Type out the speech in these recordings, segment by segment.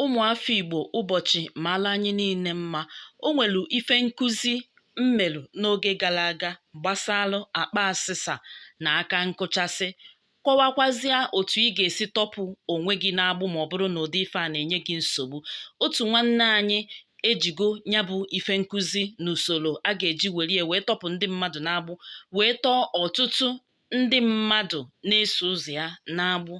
ụmụafọ Igbo ụbọchị maala anyị niile mma o nweru ife nkụzi m meru n'oge gara aga gbasalụ akpa asịsa na aka nkụchasị kọwakwazịa otu ị ga-esi tọpụ onwe gị n'agbụ ma ọ bụrụ na ụdị ife a na-enye gị nsogbu otu nwanne anyị ejigo ya bụ ife nkụzi na usoro a ga-eji werie wee tọpụ ndị mmadụ n'agbụ wee tọọ ọtụtụ ndị mmadụ na-eso ụzọ ya n'agbụ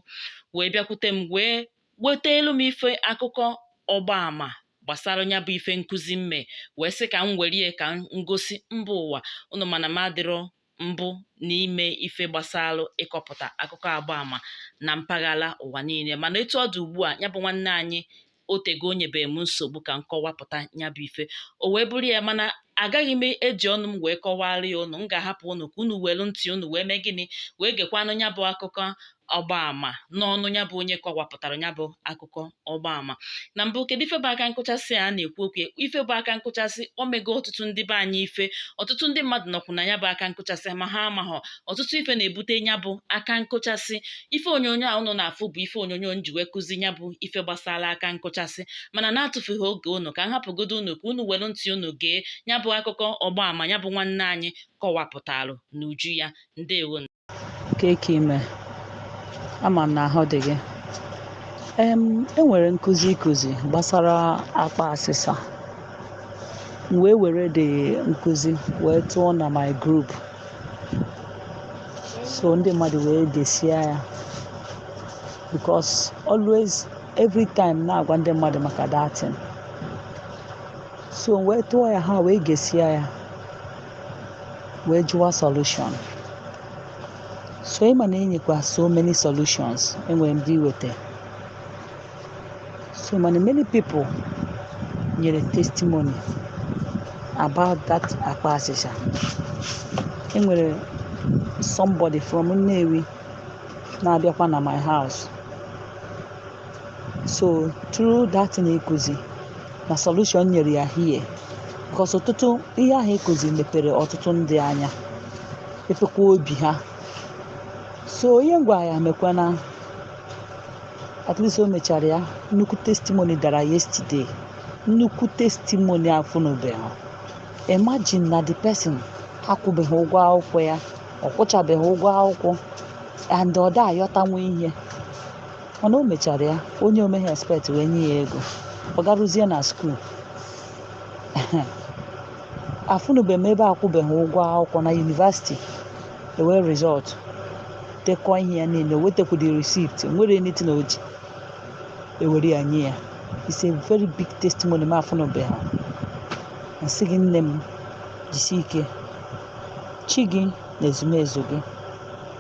wee bịakwute m wee weteelu m ife akụkọ ọgbaama gbasara ya bụ ife nkụzi m me wee sị ka m were ka m gosi mba ụwa unu mana m adịrọ mbụ n'ime ife gbasara ịkọpụta akụkọ ọgbaama na mpaghara ụwa niile mana etu ọ dị ugbu a ya bụ nwanne anyị o tego o nyebeghị m nsogbu ka m kọwapụta ya bụ ife o wee bụrụ ya mana agaghị m eji ọnụ m wee kọwara ya unu m ga-ahapụ ụnụ ka unu welu ntị unu wee mee gịnị wee gekwanụ ya bụ akụkọ ọgbaama n'ọnụ ya bụ onye kọwapụtara ya bụ akụkọ ọgbaama na mbụ kedu ife bụ aka nkụchasị a na-ekwu okwu ife bụ aka nkụchasị o mego ọtụtụ ndị be anyị ife ọtụtụ ndị mmadụ nọkwu na ya bụ aka nkụchasị ma ha amaghọ ọtụtụ ife na-ebute ya bụ aka nkụchasị ife onyonyo a unu na-afụ bụ ife onyonyo m ji wee kụzi ya bụ ife gbasara aka nkụchasị mana n'atụfughị oge unu ka m hapụgodo unu ka unu were ntị unu gee ya bụ akụkọ ọgbaama ya bụ nwanne anyị kọwapụtalụ n'uju ya ndewo Kee ke i me ama m na ahụ dị gị em e nwere nkụzi ị kụzi gbasara akpa asịsa m wee were the nkụzi wee tụọ na my group so ndị mmadụ wee gesia ya because always every time na-agwa ndị mmadụ maka that thing so m wee tụọ ya ha wee gesia ya wee jụwa solution so ị ma na i nyekwa so many solutions enwere ndị i weta so many many people nyere testimony about that akpa asịsa enwere somebody from Nnewi na-abịakwa na my house so through that thing i kuzi na solution nyere ya here because ọtụtụ ihe ahụ i kuzi mepere ọtụtụ ndị anya mepekwa obi ha so ihe m gwa ya mekwa na at least o mechara ya nnukwu testimony dara yesterday nnukwu testimony afụnụbeghị imagine na the person akwụbeghị ụgwọ akwụkwọ ya ọ kwụchabeghị ụgwọ akwụkwọ and ọ da ayọtanwu ihe mana o mechara ya onye o meghị expect wee nye ya ego ọ garuzie na school afụnube m ebe akwụbeghị ụgwọ akwụkwọ na university ewee result dekọ ihe ya niile wetekwu the receipt nwere anything o ji ewere ya nye ya it's a very big testimony m afụnụbeghị m sị gị nne m jisi ike chi gị na ezumezu gị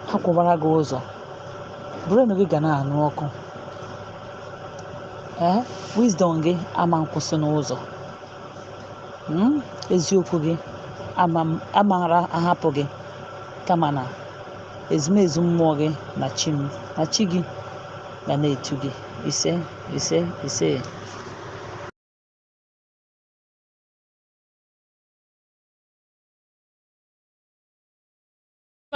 ha kwụbara gị ụzọ brain gị ga na-anụ ọkụ ee wisdom gị ama nkwụsị n'ụzọ Mm, eziokwu gị amara ahapụ gị kama na ezumezu mmụọ gị na chi m na chi gị ga na-edu gị ise ise ise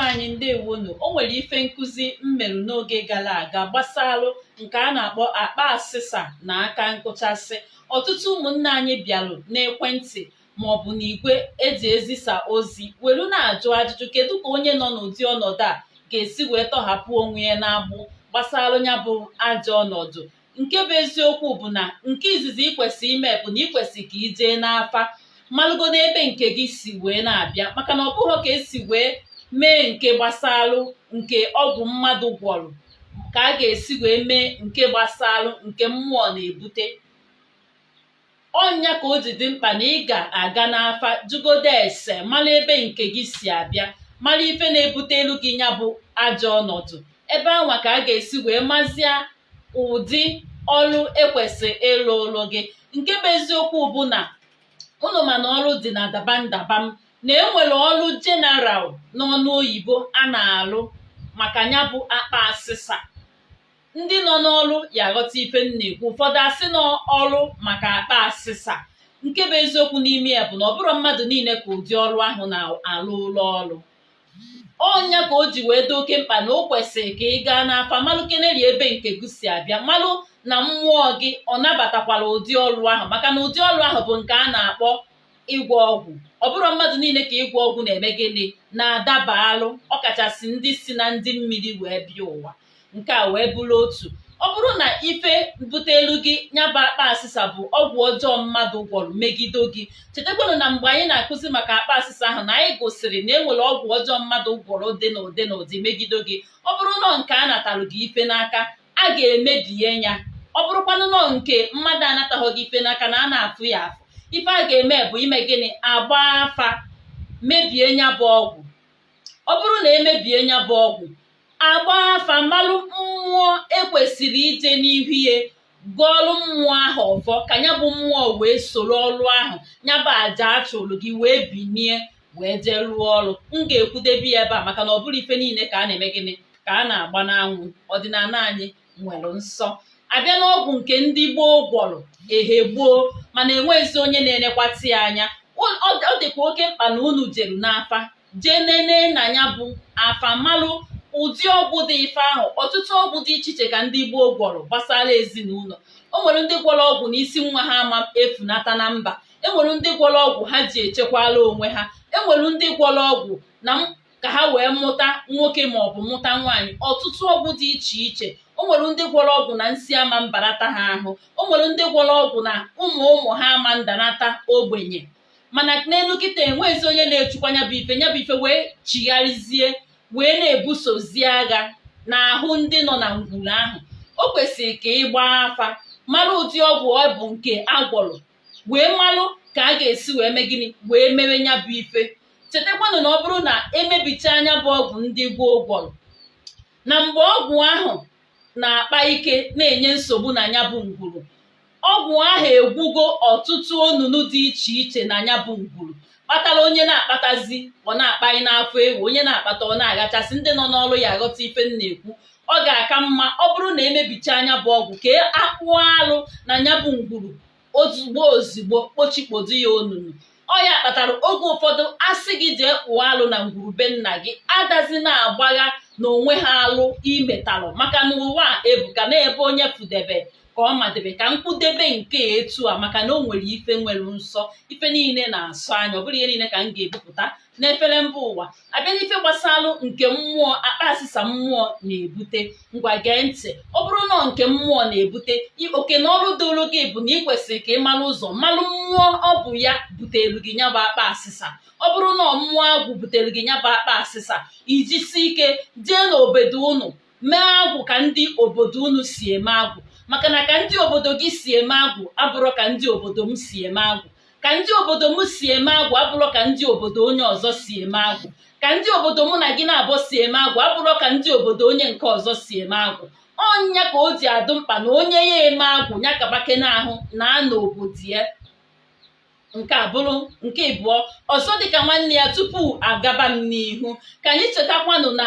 anyị ndewonụ o nwere ife nkụzi m merụ n'oge gara aga gbasalụ nke a na-akpọ akpa asịsa na aka nkụchasị ọtụtụ ụmụnne anyị bịarụ n'ekwentị maọbụ n'igwe eji ezisa ozi welu na-ajụ ajụjụ kedu ka onye nọ n'ụdị ọnọdụ a ga-esi wee tọhapụ onwe ya n'agbụ gbasalụ ya bụ ajọ ọnọdụ nke bụ eziokwu bụ na nke izizi ị kwesị ime bụ na ị kwesị ka ị jee n'afa malụgodo ebe nke gị si wee na-abịa maka na ọ bụrọ ka esi wee mee nke gbasalụ nke ọgwụ mmadụ gwọrọ ka a ga-esi wee mee nke gbasalụ nke mmụọ na-ebute ọ nya ka o ji dị mkpa na ị ga-aga n'afa jụgodo ese mara ebe nke gị si abịa mara ife na-ebutelụ gị ya bụ ajọ ọnọdụ ebe anwa ka a ga-esi wee mazia ụdị ọrụ ekwesị ịlụlụ gị nke bụ eziokwu bụ na unu ma na ọrụ dị na dabam dabam na enwere ọrụ general n'ọnụ oyibo a na-alụ maka ya bụ akpa asịsa ndị nọ n'ọrụ ya aghọta ife m na-ekwu ụfọdụ asị na ọrụ maka akpa asịsa nke bụ eziokwu n'ime ya bụ na ọ bụrọ mmadụ niile ka ụdị ọrụ ahụ na-alụlụ ọrụ ọ nya ka o ji wee dị oke mkpa na o kwesịrị ka ị gaa n'afa malụ keneri ebe nke gị si abịa malụ na mmụọ gị ọ nabatakwara ụdị ọrụ ahụ maka na ụdị ọrụ ahụ bụ nke a na-akpọ ịgwọ ọgwụ ọ bụrọ mmadụ niile ka ịgwọ ọgwụ na-eme gịnị na-adabalụ ọkachasị ndị si na ndị mmiri wee bịa ụwa nke a wee bụrụ otu ọ bụrụ na ife butelụ gị nya bụ akpa asịsa bụ ọgwụ ọjọọ mmadụ gwọrọ megide gị chetakwanụ na mgbe anyị na-akụzi maka akpa asịsa ahụ na anyị gosiri na e nwere ọgwụ ọjọọ mmadụ gwọrọ dị n'ụdị n'ụdị megide gị ọ bụrụ na ọ nke a natalụ gị ife n'aka a ga-emebie ya ọ bụrụkwanụ nọ nke mmadụ anataghị gị ife n'aka na a na-afụ ya afụ ife a ga-eme bụ ime gịnị agba afa mebie nya bụ ọgwụ ọ bụrụ na emebie nya bụ ọgwụ agba afa malụ mmụọ ekwesịrị ije n'ihu ya gọọlụ mmụọ ahụ ọfọ ka nya bụ mmụọ wee soro ọlụ ahụ nya bụ aja achụrụ gị wee binie wee jee rụọ ọrụ m ga-ekwudebe ya ebe a maka na ọ bụrọ ife niile ka a na-eme gịnị ka a na-agba n'anwụ ọdịnana anyị nwere nsọ abịa n'ọgwụ nke ndị gboo gwọrọ ehe gboo mana enweghịzi onye na-enekwata ya anya Ọ- ọ ọ dịkwa oke mkpa na unu jeru n'afa jee nene na nya bụ afa malụ ụdị ọgwụ dị ife ahụ ọtụtụ ọgwụ dị iche iche ka ndị gboo gwọrọ gbasara ezinụlọ o nwere ndị gwọrọ ọgwụ na isi nwa ha ama efunata na mba enwere ndị gwọrọ ọgwụ ha ji echekwala onwe ha enwere ndị gwọrọ ọgwụ na m- ka ha wee mụta nwoke ma ọ bụ mụta nwaanyị ọtụtụ ọgwụ dị iche iche o nwere ndị gwọrọ ọgwụ na nsị ama mbarata ha ahụ o nwere ndị gwọrọ ọgwụ na ụmụ ụmụ ha ama ndanata ogbenye mana n'elu kịtaa enweghịzi onye na-echukwa nya bụ ife nya bụ ife wee chigharịzie wee na-ebusozi agha n'ahụ ndị nọ na ngwuru ahụ o kwesịrị ka ị gbaa afa mara ụdị ọgwụ ọ bụ nke agwọrọ wee malụ ka a ga-esi wee mee gịnị wee mewe nya bụ ife chetakwanụ na ọ bụrụ na emebichaa nya bụ ọgwụ ndị gboo gwọrọ na mgbe ọgwụ ahụ na-akpa ike na-enye nsogbu na nya bụ ngwuru ọgwụ ahụ egwugo ọtụtụ onunu dị iche iche na nya bụ ngwuru kpatara onye na-akpatazi ọ na-akpanye n'afọ ewu onye na-akpata ọ na-aghachasị ndị nọ n'ọrụ ya aghọta ife m na-ekwu ọ ga-aka mma ọ bụrụ na emebichaa nya bụ ọgwụ ka a kpụọ alụ na nya bụ ngwuru ozugbo ozugbo kpochikpodo ya onunu ọ ya kpatara oge ụfọdụ asị gị jee kpụọ alụ na ngwuru be nna gị adazi na-agbagha na o nweghị alụ i metalụ maka na ụwa ebuka na ebe onye fụdebe ka ọ madebe ka m kwudebe nke etu a maka na o nwere ife nwere nsọ ife niile na-asọ anya ọ bụrọ ihe niile ka m ga-ebupụta n'efere mba ụwa abịa n'ife gbasalụ nke mmụọ akpa asịsa mmụọ na-ebute ngwa gee ntị ọ bụrụ na nke mmụọ na-ebute oke na ọrụ doro gị bụ na ị kwesịrị ka ị mara ụzọ malụ mmụọ ọ bụ ya butere gị nya bụ akpa asịsa ọ bụrụ na mmụọ agwụ butere gị nya bụ akpa asịsa i jisie ike jee n'obodo unu mee agwụ ka ndị obodo unu si eme agwụ maka na ka ndị obodo gị si eme agwụ abụrọ ka ndị obodo m si eme agwụ ka ndị obodo m si eme agwụ abụrọ ka ndị obodo onye ọzọ si eme agwụ ka ndị obodo mụ na gị naabọ si eme agwụ abụrọ ka ndị obodo onye nke ọzọ si eme agwụ ọ nya ka o ji adụ mkpa na onye ya eme agwụ nya kabake n'ahụ n'ana obodo ya nke a bụrụ nke ịbụọ ọzọ dịka nwanne ya tupu agaba m n'ihu ka anyị chetakwanụ na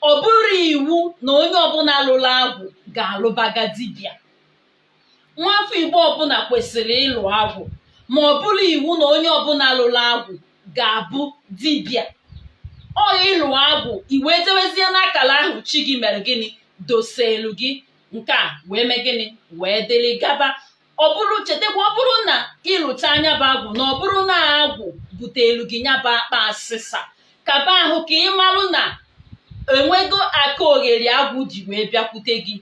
ọ bụrọ iwu na onye ọbụla lụrụ agwụ ga-alụbaga dibịa nwa afọ igbo ọbụla kwesịrị ịlụ agwụ ma ọ bụrọ iwu na onye ọbụla lụrụ agwụ ga-abụ dibịa ọ ịlụ agwụ i wee jewezie n'akara ahụ chi gị mere gịnị doselu gị nke a wee mee gịnị wee dịrị gaba ọ bụrụ chetakwa ọ bụrụ na ị lụcha nya bụ agwụ na ọ bụrụ na agwụ butelu gị nya bụ akpa asịsa kaba ahụ ka ị marụ na enwego aka ogheri agwụ ji wee bịakwute gị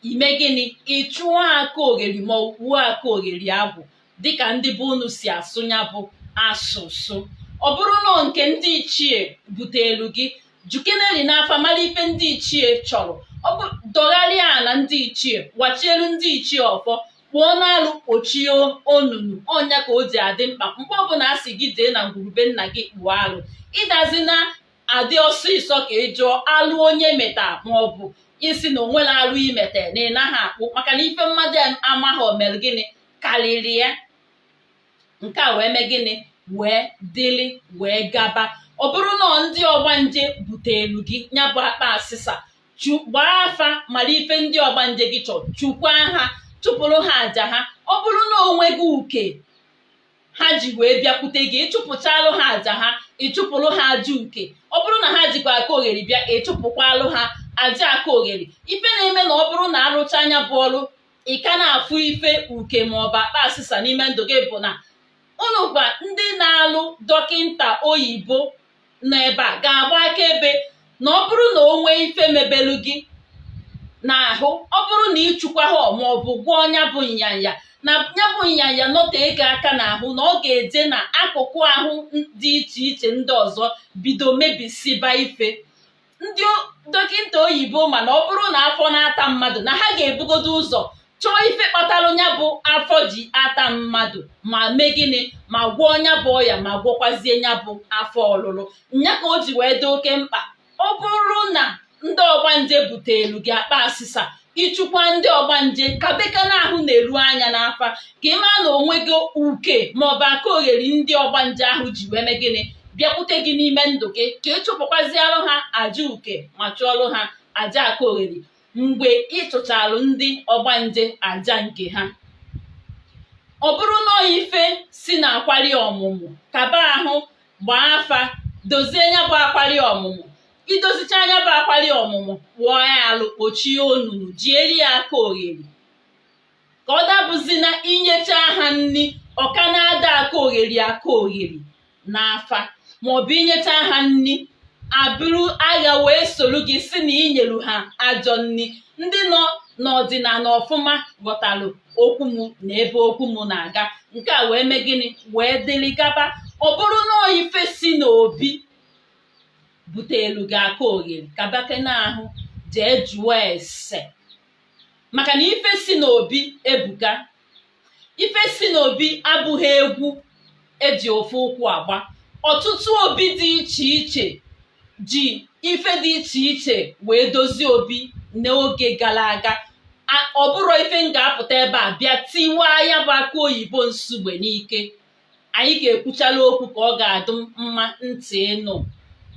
i mee gịnị ị chụọ aka ogheri ma ọ wuo aka ogheri agwụ dịka ndị be unu si asụ nya bụ asụsụ ọ bụrụ na ọ nke ndị ichie butelu gị jụkeneli n'afa mara ife ndị ichie chọrọ ọ bụ dọgharịa ala ndị ichie wachielu ndị ichie ọfọ kpụọ n'alụ kpochie onunu ọ nya ka o ji adị mkpa mgbe ọbụla a sị gị jee na ngwurube nna gị kpụọ alụ ị dazina adị ọsịsọ ka ị jụọ alụ onye meta maọbụ ị sị na o nwerọ alụ i mete na ị naghị akpụ maka na ife mmadụ amaghị o mere gịnị karịrị ya nke a wee mee gịnị wee dịlị wee gaba ọ bụrụ na ọ ndị ọgbanje buteelu gị nya bụ akpa asịsa chu- gbaa afa mara ife ndị ọgbanje gị chọrọ chụkwaa ha chụpụrụ ha aja ha ọ bụrụ na onwe gị uke ha ji wee bịakwute gị ị chụpụchalụ ha aja ha ị chụpụrụ ha aja uke ọ bụrụ na ha jikwa aka ogheri bịa ị chụpụkwalụ ha aja aka ogheri ife na-eme na ọ bụrụ na a rụcha nya bụ ọrụ ị ka na-afụ ife uke ma ọ bụ akpa asịsa n'ime ndụ gị bụ na unukwa ndị na-alụ dọkịnta oyibo nọ ebe a ga-agba akaebe na ọ bụrụ na o nwee ife mebelu gị n'ahụ ọ bụrụ na ịchụkwa ha ma ọ bụ gwọọ nya bụ nyanya na nya bụ nyanya nọtego aka n'ahụ na ọ ga-eje na akụkụ ahụ dị iche iche ndị ọzọ bido mebisiba ife ndị dọkịnta oyibo ma na ọ bụrụ na afọ na-ata mmadụ na ha ga-ebugodo ụzọ chọọ ife kpatara nya bụ afọ ji ata mmadụ ma mee gịnị ma gwọọ nya bụ ọya ma gwọkwazie nya bụ afọ ọlụlụ nya ka o ji wee dị oke mkpa ọ bụrụ na ndị ọgbanje butelu gị akpa asịsa ị chụkwa ndị ọgbanje kabekene ahụ na-eru anya n'afa ka ị maa na onwe gị uke maọbụ aka ogheri ndị ọgbanje ahụ ji wee mee gịnị bịakwute gị n'ime ndụ gị ka ị chụpụkwazialụ ha aja uke ma chụọlụ ha aja aka ogheri mgbe ị chụchalụ ndị ọgbanje aja nke ha ọ bụrụ na ọ ife si na akwari ọmụmụ kaba ahụ gbaa afa dozie nya bụ akwari ọmụmụ idozichaa nya bụ akwali ọmụmụ kpụọ ya alụ kpochie onunu jieri ya aka ogheri ka ọ dabụzi na inyecha ha nri ọ ka na-ada aka ogheri aka ogheri n'afa maọbụ inyecha ha nri abụrụ agha wee soro gị si na inyelu ha ajọ nri ndị nọ n'ọdịnala ọfụma ghọtalụ okwu m na ebe okwu m na-aga nke a wee mee gịnị wee dịrị gaba ọ bụrụ na ọ ife si n'obi butelu gị aka ogheri kabakenụ ahụ jee jụọ ese maka na ife si n'obi ebuka ife si n'obi abụghị egwu eji ofu ụkwụ agba ọtụtụ obi dị iche iche ji ife dị iche iche wee dozie obi n'oge gara aga ọ bụrụ ife m ga-apụta ebe a bịa tiwaa ya bụ akụ oyibo nsugbe n'ike anyị ga-ekwuchala okwu ka ọ ga-adụ mma ntị ịnụ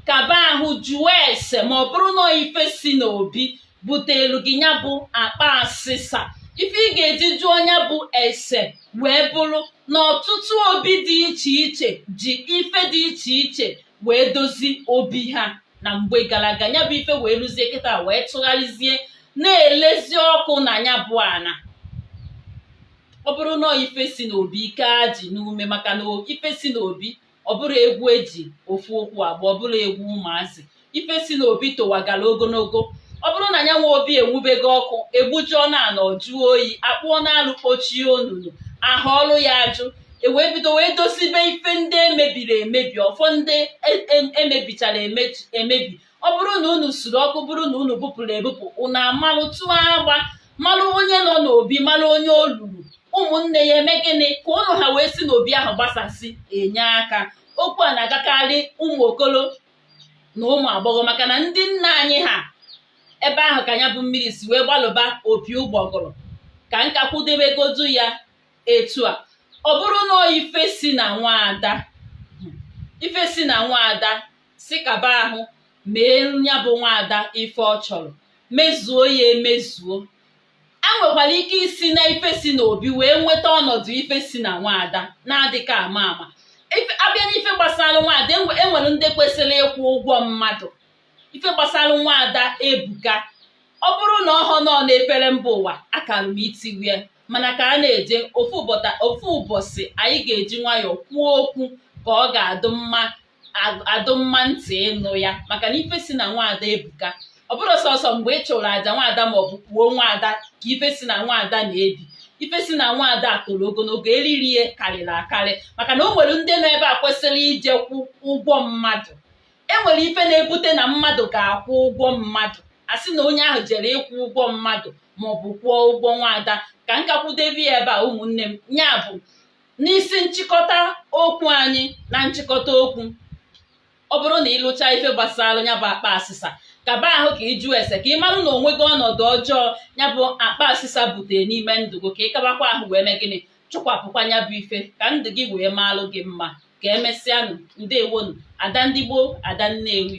kaba ahụ jụọ ese ma ọ bụrụ na ife si n'obi butelu gị ya bụ akpa asịsa ife ị ga-eji jụọ nya bụ ese wee bụrụ na ọtụtụ obi dị iche iche ji ife dị iche iche wee dozi obi ha na mgbe gara aga ya bụ ife wee luzie kịta wee tụgharịzie na-elezi ọkụ na ya bụ ana ọ bụrụ na ife si n'obi i kee ajị n'ume maka na ife si n'obi ọ bụrọ egwu eji ofu ụkwụ agba ọ bụrọ egwu ụmụazị ife si n'obi towagara ogologo ọ bụrụ na ya nwe obi enwubego ọkụ egbujuonụ ana ọ jụọ oyi akpụọnụ alụ kpochie onunu ahụ ọrụ ya ajụ ewee bido wee dosibe ife ndị emebiri emebi ọfọ ndị emebichara emebi ọ bụrụ na unu suru ọkụ bụrụ na unu bupụrụ ebupụ unu amalụ tụọ agba malụ onye nọ n'obi malụ onye o luru ụmụnne ya eme gịnị ka ụnụ ha wee si n'obi ahụ gbasasị enye aka okwu a na-agakarị ụmụ okolo na ụmụ agbọghọ maka na ndị nna anyị ha ebe ahụ ka ya bụ mmiri si wee gbalụba opi ụgbọgụrụ ka m ka kwudebegodu ya etu a ọ bụrụ na ife si na nwaada ife si na nwaada si kaba ahụ mee ya bụ nwaada ife ọ chọrọ mezuo ya emezuo enwekwara ike isi na ife si n'obi wee nweta ọnọdụ ife si na nwaada na-adịka ama ama abịa n'ife gbasara nwaada enwere ndị kwesịrị ịkwụ ụgwọ mmadụ ife gbasara nwaada ebuka ọ bụrụ na ọhọ na ọ na-efere mba ụwa akara m itiwa ya mana ka a na-eje ofu ụbọchị anyị ga-eji nwayọọ kwuo okwu ka ọ ga-adụ mma adụ mma ntị ịnụ ya maka na ife si na nwaada ebuka ọ bụrụ sọsọ mgbe ị chụrụ aja nwaada ma ọ bụ kwuo nwaada ka ife si na nwaada na-ebi ife si na nwaada toro ogologo eriri ya karịrị akarị maka na o nwere ndị nọ ebe a kwesịrị ije kwụọ ụgwọ mmadụ e nwere ife na-ebute na mmadụ ga-akwụ ụgwọ mmadụ a sị na onye ahụ jere ịkwụ ụgwọ mmadụ maọbụ kwụọ ụgwọ nwaada ka m ka kwudebe ya ebe a ụmụnne m ya bụ n'isi nchịkọta okwu anyị na nchịkọta okwu ọ bụrụ na ị lụcha ife gbasara ya bụ akpa asịsa kaba ahụ ka ị jụọ ese ka ị marụ na onwe gị ọnọdụ ọjọọ ya bụ akpa asịsa butere n'ime ndụ gị ka ị kabakwa ahụ wee mee gịnị chụkwapụkwa ya bụ ife ka ndụ gị wee maalụ gị mma ka emesịanụ ndewonụ ada ndị igbo ada nnewi